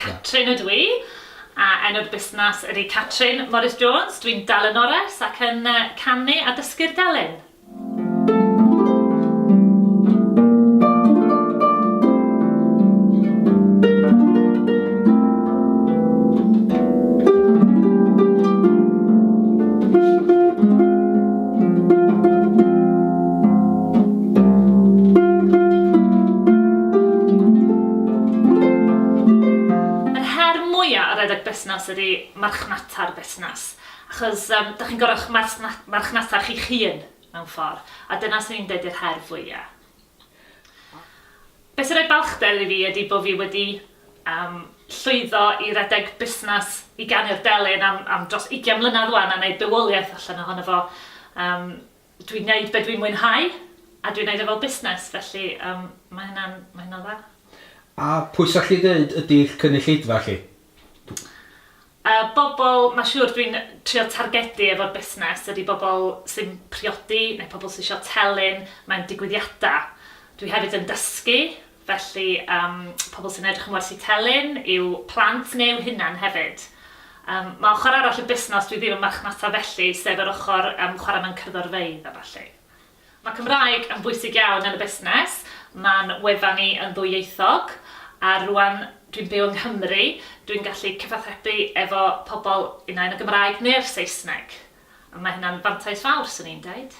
Catrin ydw i, a enw'r busnas ydy Catrin Morris Jones. Dw i'n dalynores ac yn canu a dysgu'r delyn. Yr her mwya' o redeg busnas ydi marchnata'r busnas, achos yym 'dach chi'n gor'o' 'ych marchnata chi'ch hun mewn ffor, a dyna swn i'n deud yw'r her fwya'. Be sy'n rhoi balchder i fi ydi bod fi wedi llwyddo i redeg busnes i ganu'r delyn am dros ugian mlynedd 'wan a neud bywoliaeth allan ohono fo. Dwi'n neud be dwi'n mwynhau a dwi'n neud e fel busnes felly ma' hynna'n ma' hynna'n dda. A pwy 'sach chdi ddeud ydi'ch cynulleidfa chi? Y bobl mae'n siŵr dwi'n trio targedu efo'r busnes ydy bobl sy'n priodi neu pobl sydd eisiau telyn mewn digwyddiadau. Dwi hefyd yn dysgu, felly um, pobl sy'n edrych yn wersi telyn yw plant neu yw hunan hefyd. Um, mae ochr arall y busnes dwi ddim yn marchnata felly, sef yr ochr um, chwarae mewn cyrddorfeidd a falle. Mae Cymraeg yn bwysig iawn yn y busnes, mae'n wefan ni yn ddwyieithog a rwan dwi'n byw yng Nghymru, dwi'n gallu cyfathrebu efo pobl unai yn y Gymraeg neu'r Saesneg, a mae hynna'n fantais fawr, 'swn i'n deud.